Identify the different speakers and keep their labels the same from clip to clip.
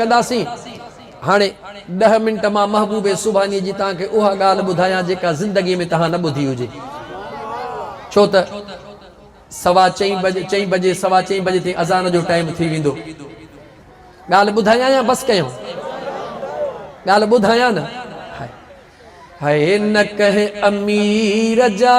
Speaker 1: ڪنداسين. هاڻي ڏهه منٽ مان محبوبي سوڀانيء جي توهان کي اها ڳالهه ٻڌايان جيڪا زندگيء ۾ توهان نه ٻڌي هجي. ڇو ته سوا چئين بجي چئين بجي سوا چئين بجي تائين اذان جو ٽائيم ٿي ويندو. ڳالهه ٻڌايان يا بس ڪيون؟ ڳالهه ٻڌايان نه. هاء هاء نه ڪنهن امير جا.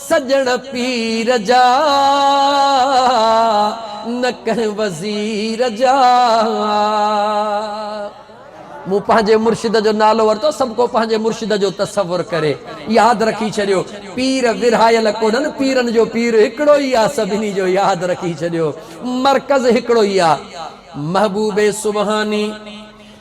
Speaker 1: سڄڻ پير جا، نه ڪنهن وزير جا. مون پنهنجي مرشد جو نالو ورتو، سڀ ڪو پنهنجي مرشد جو تصور ڪري. ياد رکي ڇڏيو، پير ورهايل ڪونهن، پيرن جو پير هڪڙو ئي آ، سڀني جو ياد رکي ڇڏيو، مرڪز هڪڙو ئي آ. محبوب سبحاني.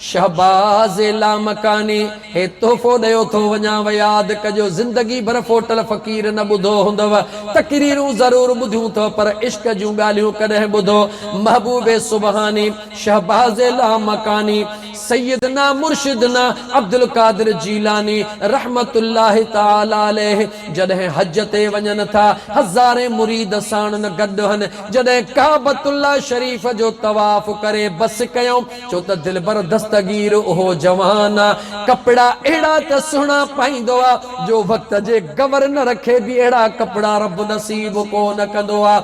Speaker 1: شهباز لامڪاني، هي تحفو ڏيو ٿو وڃان و ياد ڪجو زندگي ڀر ڦوٽل فقير نه ٻڌو هوندو، تقريرون ضرور ٻڌيون ٿو پر عشق جون ڳالهيون ڪڏهن ٻڌو محبوب سبحاني، شهباز لامڪاني، سيدنا مرشدنا عبدالقادر جيلاني رحمة الله تعالي عليه جڏهن حج تي وڃن ٿا هزارين مريد ساڻن گڏ هن جڏهن ڪعبة الله شريف جو طواف ڪري بس ڪيائون ڇو ته دلبر دستگير اهو جوان آ، ڪپڙا اهڙا ته سهڻا پائيندو آ، جو وقت جي گورنر کي به اهڙا ڪپڙا رب نصيب ڪو نه ڪندو آ.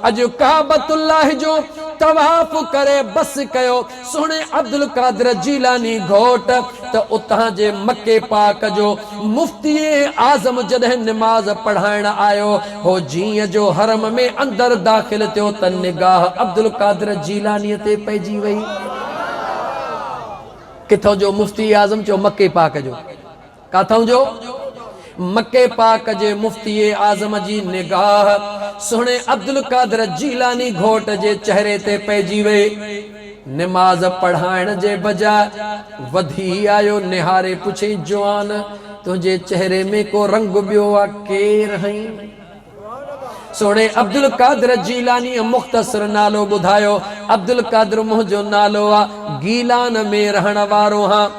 Speaker 1: اڄ ڪعبة الله جو طواف ڪري بس ڪيو، سهڻي عبدالقادر جيلاني گهوٽ ته اتان جي مڪي پاڪ جو مفتي اعظم جڏهن نماز پڙهائڻ آيو هو جيئن جو حرم ۾ اندر داخل ٿيو ته نگاهه عبدالقادر جيلانيء تي پئجي وئي. ڪٿون جو مفتي اعظم چيو مڪي پاڪ جو. ڪاٿون جو؟ مڪي پاڪ جي مفتي اعظم جي نگاهه سهڻي عبدالقادر جيلاني گهوٽ جي چهري تي پئجي وئي. نماز پڙهائڻ جي بجاء وڌي آيو نهاري پڇين جوان تنهنجي چهري ۾ ڪو رنگ ٻيو آ ڪير هئين؟ سهڻي عبدالقادر جيلانيء مختصر نالو ٻڌايو عبدالقادر منهنجو نالو آ گيلان ۾ رهڻ وارو هان.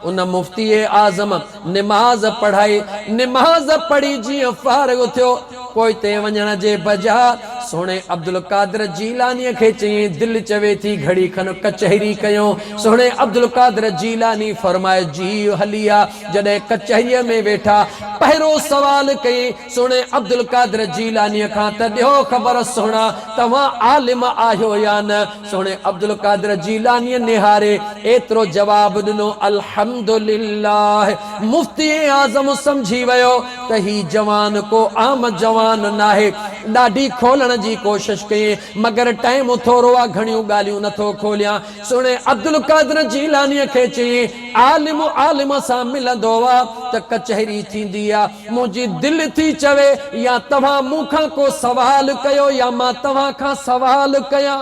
Speaker 1: ان مفتي اعظم نماز پڙهائي، نماز پڙهي جيئن فارغ ٿيو، پوئتي وڃڻ جي بجاء سهڻي عبدالقادر جيلانيء کي چيائين، دل چوي ٿي گهڙي کن ڪچهري ڪيون. سهڻي عبدالقادر جيلاني فرمائي جيء هلي آ. جڏهن ڪچهريء ۾ ويٺا، پهريون سوال ڪيائين. سهڻي عبدالقادر جيلانيء کان ته ڏيو خبر سهڻا توهان عالم آهيو يا نه؟ سهڻي عبدالقادر جيلانيء نهاري ايترو جواب ڏنو، الحمدلله! مفتي اعظم سمجهي ويو ته هي جوان ڪو عام جوان ناهي. ڏاڍي کولڻ جي ڪوشش ڪيئين، مگر ٽائيم ٿورو آ، گهڻيون ڳالهيون نه ٿو کوليان. سهڻي عبدالقادر جيلانيء کي چيئين، عالم عالم سان ملندو آ ته ڪچهري ٿيندي آ. منهنجي دل ٿي چوي يا توهان مون کان ڪو سوال ڪيو يا مان توهان کان سوال ڪيان.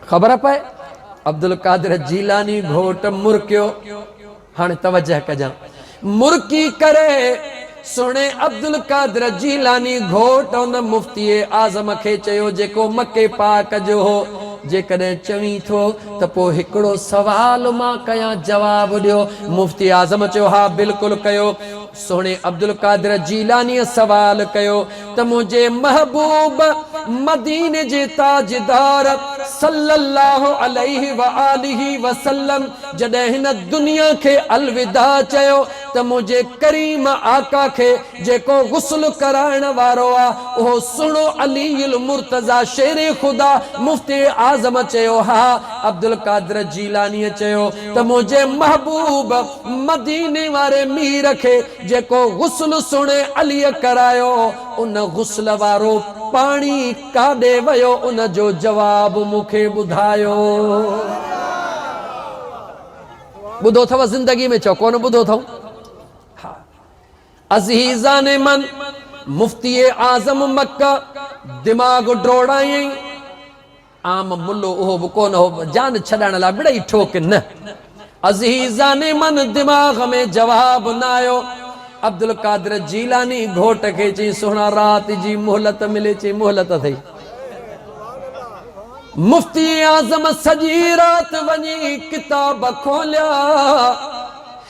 Speaker 1: خبر پئي عبدالقادر جيلاني گهوٽ مرڪيو. هاڻي توجه ڪجان. مرڪي ڪري سهڻي عبدالقادر جيلاني گهوٽ ان مفتي اعظم کي چيو جيڪو مڪي پاڪ جو هو جيڪڏهن چوين ٿو ته پوء هڪڙو سوال مان ڪيان جواب ڏيو. مفتي اعظم چيو ها بلڪل ڪيو. سهڻي عبدالقادر جيلانيء سوال ڪيو ته منهنجي محبوب مديني جي تاجدار صلّي اللّٰه عليه واٰله وسلّم جڏهن هن دنيا کي الوداع چيو ته منهنجي ڪريم آقا کي جيڪو غسل ڪرائڻ وارو آ اهو سهڻو علي المرتضيٰ شير خدا مفتي اعظم چيو ها عبدالقادر جيلانيء چيو ته منهنجي محبوب مديني واري مير کي جيڪو غسل سهڻي عليء ڪرايو ان غسل وارو پاڻي ڪاڏي ويو ان جو جواب مون کي ٻڌايو ٻڌو اٿئو زندگي ۾ چئو ڪونه ٻڌو اٿئون ها عزيزان من! مفتي اعظم مڪه دماغ ڊوڙايئين. عام ملو اهو به ڪونه هو، جان ڇڏائڻ لاء بڙئي ٺوڪ نه. عزيزان من! دماغ ۾ جواب نه آيو. عبدالقادر جيلاني گهوٽ کي چيائين، سهڻا رات جي مهلت ملي. چيائين، مهلت اٿئي. مفتي اعظم سڄي رات وڃي ڪتاب کوليا.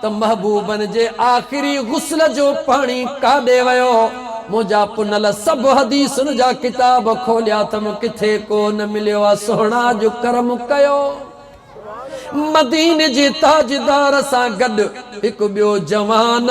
Speaker 1: ته محبوبن جي آخري غسل جو پاڻي ڪاڏي ويو؟ منهنجا پنل سڀ حديثن جا ڪتاب کوليا اٿم ڪٿي ڪو نه مليو آ سهڻا اڄ ڪرم ڪيو مديني جي تاجدار سان گڏ هڪ ٻيو جوان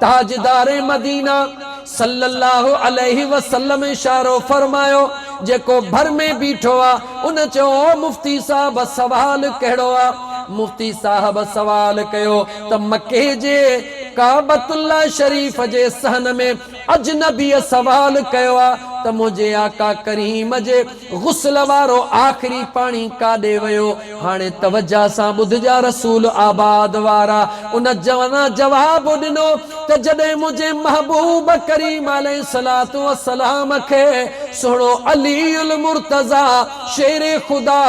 Speaker 1: تاجدار مدينه صلّي اللّٰه عليه وسلّم اشارو فرمايو، جيڪو ڀر ۾ بيٺو آ، ان چيو، او مفتي صاحب سوال ڪهڙو آ؟ مفتي صاحب سوال ڪيو ته مڪي جي ڪعبت اللّٰه شريف جي صحن ۾ اجنبيء سوال ڪيو آ ته منهنجي آقا ڪريم جي غسل وارو آخري پاڻي ڪاڏي ويو؟ هاڻي توجه سان ٻڌجا رسول آباد وارا. ان جوانا جواب ڏنو ته جڏهن منهنجي محبوب ڪريم عليه الصلوة والسلام کي سهڻو علي المرتضيٰ شير خدا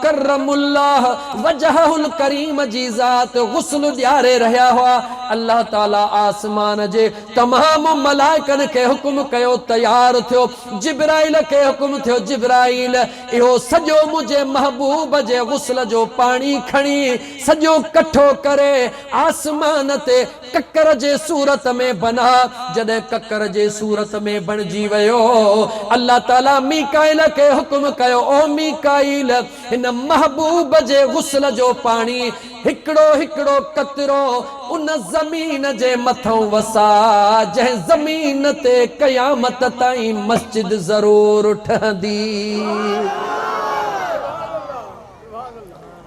Speaker 1: ڪرم الله وجهه الڪريم جي ذات غسل ڏياري رهيا هئا الله تعالي آسمان جي تمام ملائڪن کي حڪم ڪيو تيار ٿيو جبرائيل کي حڪم ٿيو، جبرائيل! اهو سڄو منهنجي محبوب جي غسل جو پاڻي کڻي، سڄو ڪٺو ڪري، آسمان تي ڪڪر جي صورت ۾ بناء. جڏهن ڪڪر جي صورت ۾ بڻجي ويو، الله تعاليٰ ميڪائيل کي حڪم ڪيو، او ميڪائيل! هن محبوب جي غسل جو پاڻي هڪڙو هڪڙو قطرو ان زمين جي مٿئون وساء جنهن زمين تي قيامت تائين مسجد ضرور ٺهندي.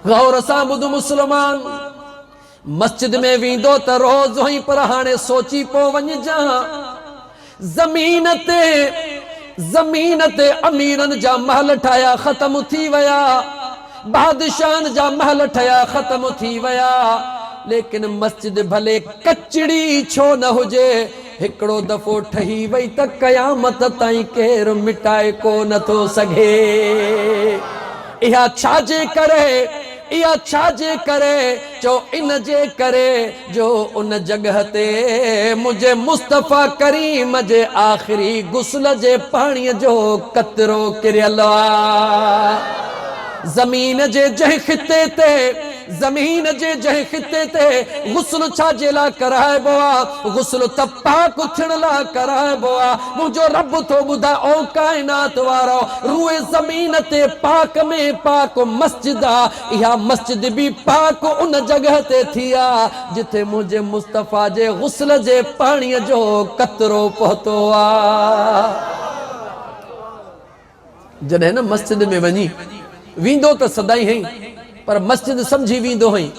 Speaker 1: غور سان ٻڌ مسلمان! مسجد ۾ ويندو ته روز هئين پر هاڻي سوچي پو وڃ جانء. زمين تي زمين تي اميرن جا محل ٺاهيا ختم ٿي ويا، بادشاهن جا محل ٺهيا ختم ٿي ويا، ليڪن مسجد ڀلي ڪچڙي ڇو نه هجي هڪڙو دفعو ٺهي وئي ته قيامت تائين ڪير مٽائي ڪو نه ٿو سگهي. اها ڇا جي ڪري؟ اها ڇا جي ڪري؟ چؤ ان جي ڪري جو ان جڳهه تي منهنجي مصطفيٰ ڪريم جي آخري غسل جي پاڻيء جو قطرو ڪريل آ. زمين جي جنهن خطي تي، زمين جي جنهن خطي تي غسل ڇا جي لاء ڪرائبو آ؟ غسل ته پاڪ ٿيڻ لاء ڪرائبو آ. منهنجو رب ٿو ٻڌاء او ڪائنات وارؤ! روئي زمين تي پاڪ ۾ پاڪ مسجد آ، اها مسجد به پاڪ ان جڳهه تي ٿي آ، جٿي منهنجي مصطفيٰ جي غسل جي پاڻيء جو قطرو پهتو آ. جڏهن نه مسجد ۾ وڃي ويندو ته سدائين هئين پر مسجد سمجهي ويندو هئين،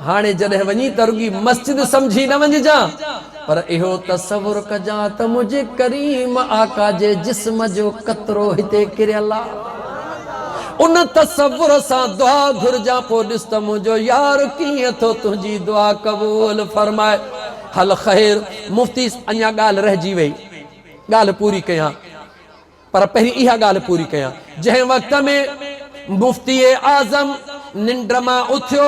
Speaker 1: هاڻي جڏهن وڃي ته رڳي مسجد سمجهي نه وڃجان پر اهو تصور ڪجان ته منهنجي ڪريم آقا جي جسم جو قطرو هتي ڪريل آ. ان تصور سان دعا گهرجان پوء ڏس ته منهنجو يار ڪيئن ٿو تنهنجي دعا قبول فرمائي. هل خير مفتي اڃا ڳالهه رهجي وئي ڳالهه پوري ڪيان. پر پهرين اها ڳالهه پوري ڪيان. جنهن وقت ۾ مفتي اعظم ننڊ مان اٿيو،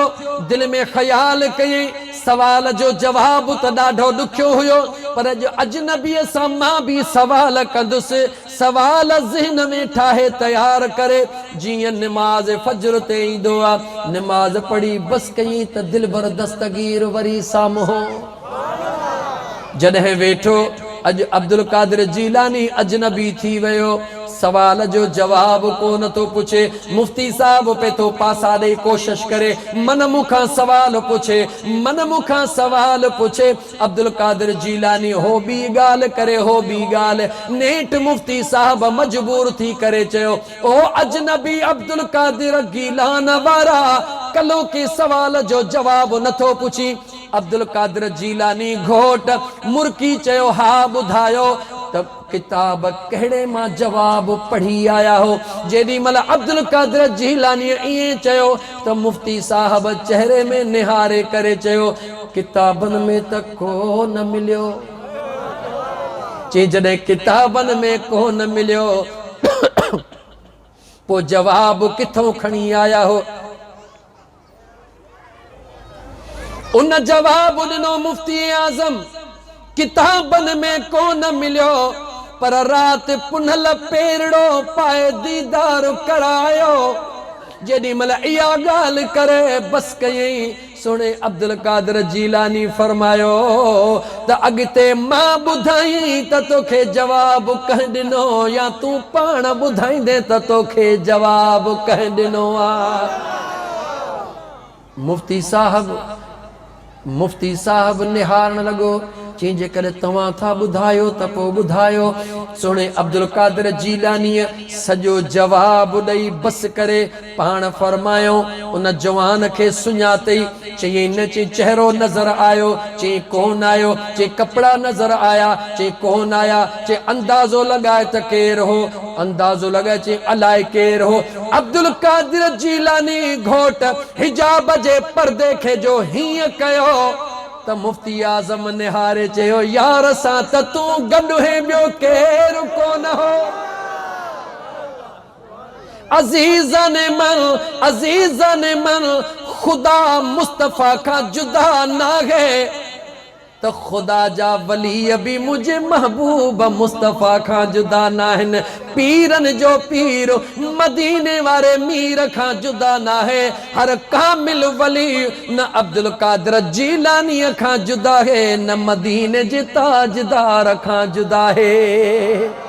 Speaker 1: دل ۾ خيال ڪيائين، سوال جو جواب ته ڏاڍو ڏکيو هيو، پر اڄ اجنبيء سان مان به سوال ڪندس. سوال ذهن ۾ ٺاهي تيار ڪري، جيئن نماز فجر تي ايندو آ. نماز پڙهي بس ڪيائين ته دلبر دستگير وري سامهون. جڏهن ويٺو، اڄ عبدالقادر جيلاني اجنبي ٿي ويو. سوال جو جواب ڪو نه ٿو پڇي. مفتي صاحب پئي ٿو پاسا ڏئي ڪوشش ڪري. من مون کان سوال پڇي. من مون کان سوال پڇي. عبدالقادر جيلاني هو ٻي ڳالهه ڪري هو ٻي ڳالهه. نيٺ مفتي صاحب مجبور ٿي ڪري چيو، او اجنبي عبدالقادر گيلان وارا! ڪلهوڪي سوال جو جواب نه ٿو پڇين. عبدالقادر جيلاني گهوٽ مرڪي چيو، ها ٻڌايو ته ڪتاب ڪهڙي مان جواب پڙهي آيا هو. جيڏي مهل عبدالقادر جيلانيء ائين چيو ته مفتي صاحب چهري ۾ نهاري ڪري چيو، ڪتابن ۾ ته ڪو نه مليو. چي جڏهن ڪتابن ۾ ڪو نه مليو پوء جواب ڪٿئون کڻي آيا هو؟ ان جواب ڏنو مفتي اعظم ڪتابن ۾ ڪو نه مليو پر رات پنهل پيرڙو پائي ديدار ڪرايو جيڏي مھل اها ڳالھ ڪري بس ڪيئين سھڻي عبدالقادر جيلاني فرمايو ته اڳتي مان ٻڌائين ته توکي جواب ڪنهن ڏنو يا تون پاڻ ٻڌائيندين ته توکي جواب ڪنهن ڏنو آ. مفتي صاحب مفتي صاحب نهارڻ لڳو، چيائين جيڪڏهن توهان ٿا ٻڌايو ته پوء ٻڌايو. سهڻي عبدالقادر جيلانيء سڄو جواب ڏئي بس ڪري پاڻ فرمايائون، ان جوان کي سڃاتئي؟ چيائين نه، چيائين چهرو نظر آيو؟ چيائين ڪونه آيو، چيائين ڪپڙا نظر آيا؟ چيائين ڪونه آيا، چيائين اندازو لڳاء ته ڪير هو؟ اندازو لڳاء، چيائين الائي ڪير هو؟ عبدالقادر جيلاني گهوٽ حجاب جي پردي کي جو هيئن ڪيو ته مفتي اعظم نهاري چيو يار سان ته تون گڏ هين ٻيو ڪير ڪونه هو عزيزان من عزيزان من خدا مصطفيٰ کان جدا ناهي. ته خدا جا ولي به منهنجي محبوب مصطفيٰ کان جدا ناهن، پيرن جو پير مديني واري مير کان جدا ناهي، هر ڪامل ولي نه عبدالقادر جيلانيء کان جداهي نه مديني جي تاجدار کان جداهي.